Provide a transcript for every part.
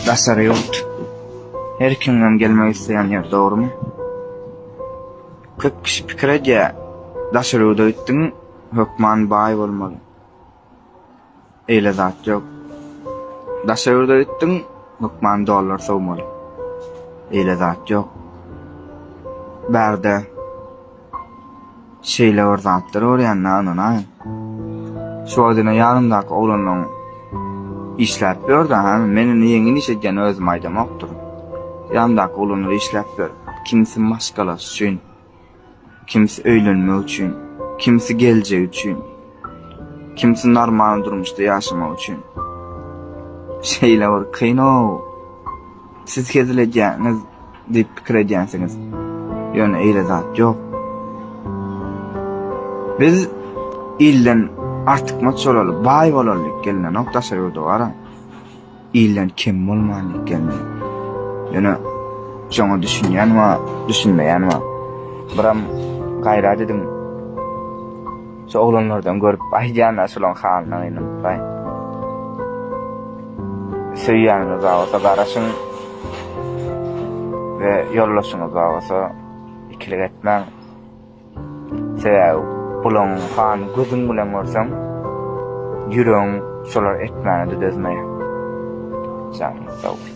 Daşary ýurt. Her kimem gelmek isleýän ýer, dogrumy? Köp kişi pikir edýär, daşary ýurda gitdiň, hökman baý bolmaly. Eýle zat ýok. Daşary ýurda gitdiň, hökman dollar sowmaly. Eýle zat ýok. Bärde Şeýle bir zatlar görýän-dä ynanaýyn. Şu wagt ine ýanymdaky oglanlaň işläp ýör-dä, hä? Men indi ýeňil iş edýän özüm aýdamokdyryn. Ýanymdaky oglanlar işläp ýör. Kimsi maşgalasy üçin, kimsi öýlenmek üçin, kimsi geljegi üçin, kimsi normal durmuşda ýaşamak üçin. Şeýle bir kyn-ow. Siz hezil edýäňiz diýip pikir edýänsiňiz. Ýöne eýle zat ýok. Biz ilden artykmaç bolaly, baý bolaly diýip gelinenok daşary ýurda bara. Ilden kem bolmaly diýip gelindi. Ýöne şoňa düşünýän bar, düşünmeýän bar. Biram gaýrat ediň. Şu oglanlardan görüp aýdýan-a şulaň halyna gynanypbaý. Söýýäniňiz bar bolsa garaşyň we ýoldaşyňyz bar bolsa ikilik etmäň. Sebäbi bulaň halyny gözüň bilen görseň ýüregiň şolar etmäne-de dözmeýär. Janyňyz sag bolsun.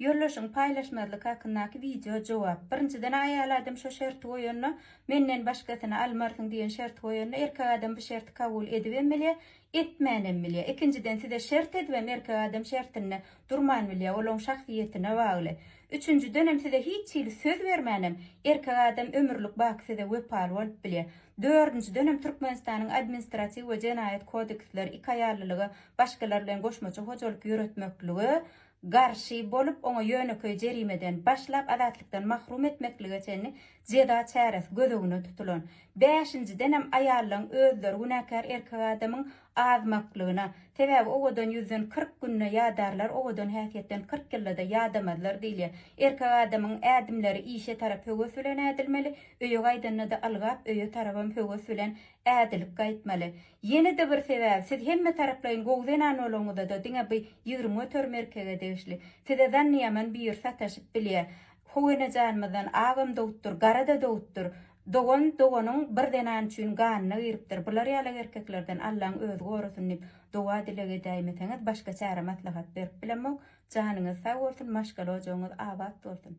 Ýoldaşyňy paýlaşmazlyk hakyndaky wideo jogap. Birinjiden aýal adam şo şerti goýanda, menden başgasyny almarsyň diýen şerti goýanda erkek adam bu şerti kabul edibem bilýär, Etmänem bilýä. Ikinjiden size şert edibem erkek adam şertinde durman bilýä, ol oň şahsyýetine bagly. Üçünjidenem size hiç hili söz bermänem erkek adam ömürlik baky size wepaly bolup bilýä. Dördünjidenem Türkmenistanyň Administratiw we Jenaýat kodeksleri iki aýallylyga başgalar bilen goşmaça hojalyk ýöretmeklige garşy bolup, oňa ýönekeý jerimeden başlap azatlykdan mahrum etmeklige çenli jeza çäresi göz öňüne tutulan. Bäşinjidenem aýallaryň özleri günäkär erkek adamyň azmaklygyna, sebäbi owadan ýüzden kyrk günde ýadarlar, owadan häsiýetden kyrk ýylda-da ýadamazlar diýilýär. Erkek adamyň ädimleri işe tarap höwes bilen ädilmeli, öýe gaýdanda-da ylgap, öýe tarabam höwes bilen ädilip gaýtmaly. Ýene-de bir sebäbi, siz hemmetaraplaýyn gowy zenan boluňyzada diňe bu ýigrimi göterim erkege degişli. Size zannyýaman büýür sataşyp bilýä. How enejanymyzdan agam dogupdyr, gara-da dogupdyr. Dogan doganyň bir zenan üçin ganyna giripdir. Bular ýalak erkeklerden Allaň özi gorasyn diýip doga-dileg edäýmeseňiz başga çäre-maslahat berip bilemok. Janyňyz sag bolsun, maşgala ojagyňyz abat bolsun.